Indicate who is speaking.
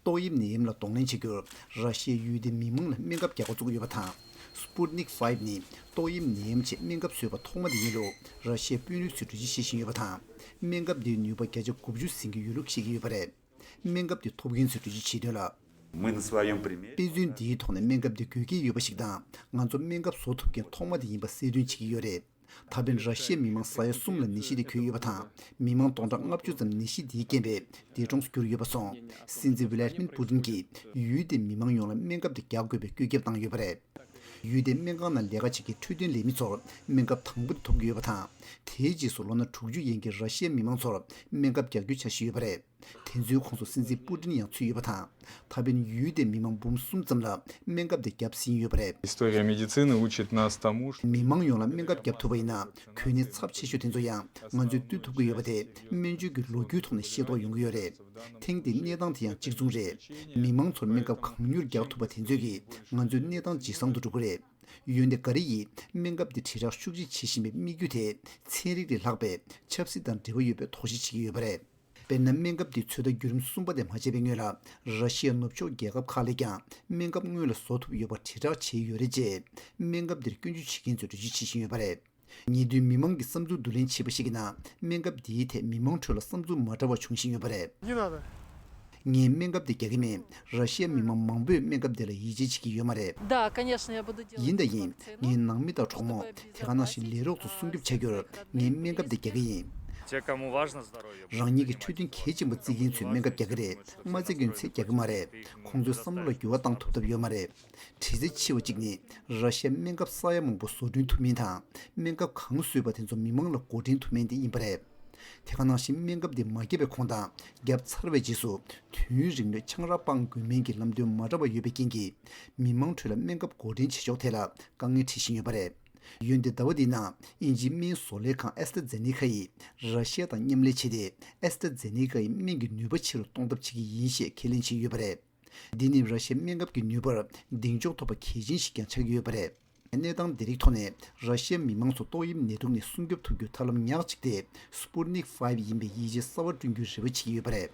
Speaker 1: ཏོག་དབྱིབས་ནད་ཡམས་ལ་གདོང་ལེན་བྱེད་རྒྱུར་ར་ཤི་ཡའི་ཡུལ་སྡེ་མི་མང་ལ་སྨན་ཁབ་རྒྱག་འགོ་བཙུགས་ཡོད་པ་དང། Sputnik Five ནི་ཏོག་དབྱིབས་ནད་ཡམས་ཆེད་སྨན་ཁབ་བཟོས་པ་ཐོག་མ་དེ་ཡིན་ལུགས་ར་ཤི་ཡའི་དཔོན་རིགས་ཚོས་གྲོས་གཞི་བཞེས་བཞིན་ཡོད་པ་དང། སྨན་ཁབ་དེའི་ནུས་པ་བརྒྱ་ཆ་དགུ་བཅུ་ཟིན་གྱི་ཡོད་ལུགས་བཤད་ཀྱི་ཡོད་པ་རེད། སྨན་ཁབ་དེ་ཐོབ་མཁན་ཚོས་གྲོས་གཞི་བྱས་དོན་ལ། དཔེ་
Speaker 2: མཚོན་འདིའི་ཐོག་ནས་སྨན་
Speaker 1: ཁབ་དེ་དགོས་ཀྱི་ཡོད་པ་ཞིག་དང་ང་ཚོ་སྨན་ཁབ་བཟོ་ཐུབ་མཁན་ཐོག་མ་དེ་ཡིན་པ་གསལ་སྟོན་བྱེད་ཀྱི་ཡོད་རེད། ད་ཕན་ར་ཤི་ཡའི་མི་མང་ས་ཡ་གསུམ་ལ་ནད་གཞི་དེ་གྱོད་ཡོད་པ་དང་མི་མང་སྟོང་ཕྲག་ལྔ་བཅུ་ཙམ་ནད་གཞི་དེའི་རྐྱེན་པས་འདས་གྲོངས་སུ་གྱུར་ཡོད་པ་སོང་སྲིད་འཛིན་བྷི་ལ་རི་མིན་པུ་ཏིན་གྱིས་ཡུལ་དེའི་མི་མང་ཡོངས་ལ་སྨན་ཁབ་དེ་རྒྱག་དགོས་པའི་བཀོད་ཁྱབ་བཏང་ཡོད་པ་རེད། ཡུལ་དེའི་སྨན་ཁང་ནང་ལས་ཀ་བྱེད་མཁན་འཕྲོད་བསྟེན་ལས་མི་ཚོར་སྨན་ཁབ་དང་པོ་དེ་ཐོབ་ཀྱི་ཡོད་པ་དང་དེའི་རྗེས་སུ་ལོ་ན་དྲུག་ཅུ་ཡན་གྱི་ར་ཤི་ཡའི་མི་མང་ཚོར་སྨན་ཁབ་རྒྱག་རྒྱུའི་འཆར་གཞི་ཡོད་པ་རེད། དེ་ཚོའི་ཁོངས་སུ་སྲིད་འཛིན་པུ་ཏིན་ཡང་ཚུད་ཡོད་པ་དང་ད་ཕན་ཡུལ་དེའི་མི་མང་འབུམ་གསུམ་ཙམ་ལ་སྨན་ཁབ་དེ་བརྒྱབ་ཟིན་ཡོད་པ་རེད།
Speaker 3: མི་མང་ཡོངས་ལ་སྨན་ཁབ་བརྒྱབ་
Speaker 1: ཐུབ་པ་ཡིན་ན་གོད་གནས་ཚབས་ཆེ་ཤོས་དེ་ཚོ་ཡང་ང་ཚོས་བཏུལ་ཐུབ་ཀྱི་ཡོད་པ་དེ་སྨན་བཅོས་ཀྱི་ལོ་རྒྱུས་ཐོག་ནས་ཤེས་རྟོགས་ཡོང་གི་ཡོད་རེད། ཐེངས་འདིའི་གནས་སྟངས་དེ་ཡང་གཅིག་མཚུངས་རེད། མི་མང་ཚོར་སྨན་ཁབ་གང་མྱུར་རྒྱག་ཐུབ་པ་དེ་ཚོས་ཀྱིས་ང་ཚོའི་གནས་སྟངས་ཇེ་བཟང་དུ་འགྲོ་གི་རེད། ཡོན་ཏེ་འགའ་རེ་ཡིས་སྨན་ཁབ་འདི་དྲིལ་བསྒྲགས་ཤུགས་ཆེ་བྱེད་བཞིན་པའི་དམིགས་ཡུལ་དེ་ཚན་རིག་ལས་ལྷག་པའི་ཆབ་སྲིད་དང་འབྲེལ་བ་ཡོད་པའི་དོགས་གཞི་བྱེད་ཀྱི་ཡོད་པ་རེད། དཔེར་ན་སྨན་ཁབ་འདི་ཚོད་ལྟ་བརྒྱུད་རིམ་གསུམ་པ་དེ་མ་བྱས་པའི་སྔོན་ལ་ར་ཤི་ཡ་ནུབ་ཕྱོགས་རྒྱལ་ཁབ་ཁག་ལས་ཀྱང་སྨན་ཁབ་སྔོན་ལ་བཟོ་ཐུབ་ཡོད་པ་དྲིལ་བསྒྲགས་བྱས་ཡོད་རེད་ཅེས་སྨན་ཁབ་འདིར་སྐྱོན་བརྗོད་བྱེད་མཁན་ཚོས་འགྲེལ་བརྗོད་བྱེད་བཞིན་ཡོད་པ་རེད། ཉེ་དུས་མི་མང་གི་བསམ་ཚུལ་བསྡུ་ལེན་བྱས་པ་ཞིག་གི་ནང་སྨན་ཁབ་འདིའི་ཐད་མི་མང་ཁྲོད་ལ་བསམ་ཚུལ་མ་འདྲ་བ་འབྱུང་བཞིན་ཡོད་པ་རེད།
Speaker 4: ངས་སྨན་
Speaker 1: ཁབ་དེ་རྒྱག་གི་མེད། ར་ཤི་ཡ་མི་དམངས་མང་པོས་སྨན་ཁབ་དེ་ལ་ཡིད་ཆེས་བྱེད་ཀྱི་ཡོད་མ་རེད།
Speaker 5: ཡིན་དང་ཡིན། ངའི་ནང་
Speaker 1: མི་དང་གྲོགས་མོ་དེ་ག་ནང་བཞིན་ལས་རོགས་ཚོ་སྲུང་སྐྱོབ་བྱ་རྒྱུར་ངས་སྨན་ཁབ་དེ་རྒྱག་གི་ཡིན།
Speaker 6: རང་ཉིད་ཀྱི་འཕྲོད་བསྟེན་གལ་
Speaker 1: ཆེན་པོ་བརྩི་མཁན་ཚོས་སྨན་ཁབ་རྒྱག་གི་རེད་མ་བརྩི་མཁན་ཚོས་རྒྱག་གི་མ་རེད། ཁོང་ཚོའི་བསམ་བློ་ལ་འགྱུར་བ་བཏང་ཐུབ་ཐབས་ཡོད་མ་རེད། གྲི་རྩེ་ཆེ་བ་གཅིག་ནི་ར་ཤ་ཡའི་སྨན་ཁབ་ས་ཡ་མང་པོ་བཟོ་སྐྲུན་ཐུབ་མིན་དང་སྨན་ཁབ་གང་བཟོས་པ་དེ་ཚོ་མི་མང་ལ་བགོ་འགྲེམས་ཐུབ་མིན་དེ་ཡིན་པ་རེད། དེ་ག་ནང་བཞིན་སྨན་ཁབ་འདི་མ་བརྒྱབ་པའི་གོང་དང་བརྒྱབ་ཚར་བའི་རྗེས་སུ་དུས་ཡུན་རིང་མོའི་ཆང་རག་སྤང་དགོས་མིན་གྱི་ལམ་སྟོན་མ་འདྲ་བ་ཡོད་པའི་རྐྱེན་གྱིས་མི་མང་ཁྲོད་ལ་སྨན་ཁབ་བགོ་འགྲེམས་བྱེད་ཕྱོགས་ཐད་ལ་དཀའ་ངལ་འཕྲད་བཞིན་ཡོད་པ་རེད། ཡོན་ཏན་ཟླ་བ་འདིའི་ནང་དབྱིན་ཇིའི་སྨན་བཟོ་ལས་ཁང་ཨེས་ཏྲ་ཛེ་ནེ་ཁ་ཡིས་ར་ཤ་ཡ་དང་མཉམ་ལས་བྱས་ཏེ་ཨེས་ཏྲ་ཛེ་ནེ་ཀ་ཡི་སྨན་གྱི་ནུས་པ་ཆེ་རུ་གཏོང་ཐབས་བྱེད་ཀྱི་ཡིན་ཞེས་ཁས་ལེན་བྱས་ཡོད་པ་རེད། འདི་ནི་ར་ཤི་ཡའི་སྨན་ཁབ་ཀྱི་ནུས་པར་གདེང་འཇོག་ཐོབ་པ་གལ་ཆེན་ཞིག་ཀྱང་ཆགས་ཀྱི་ཡོད་པ་རེད། གནས་སྟངས་འདི་རིགས་ཐོག་ནས་ར་ཤི་ཡ་མི་དམངས་ཚོ་ཏོག་དབྱིབས་ནད་དུག་ནས་སྲུང་སྐྱོབ་ཐུབ་རྒྱུར་ཐབས་ལམ་ཉག་གཅིག་སྟེ Sputnik Five ཡིན་པའི་ཡིད་ཆེས་གསར་བ་བསྐྲུན་རྒྱུའི་རེ་བ་བྱེད་ཀྱི་ཡོད་པ་རེད།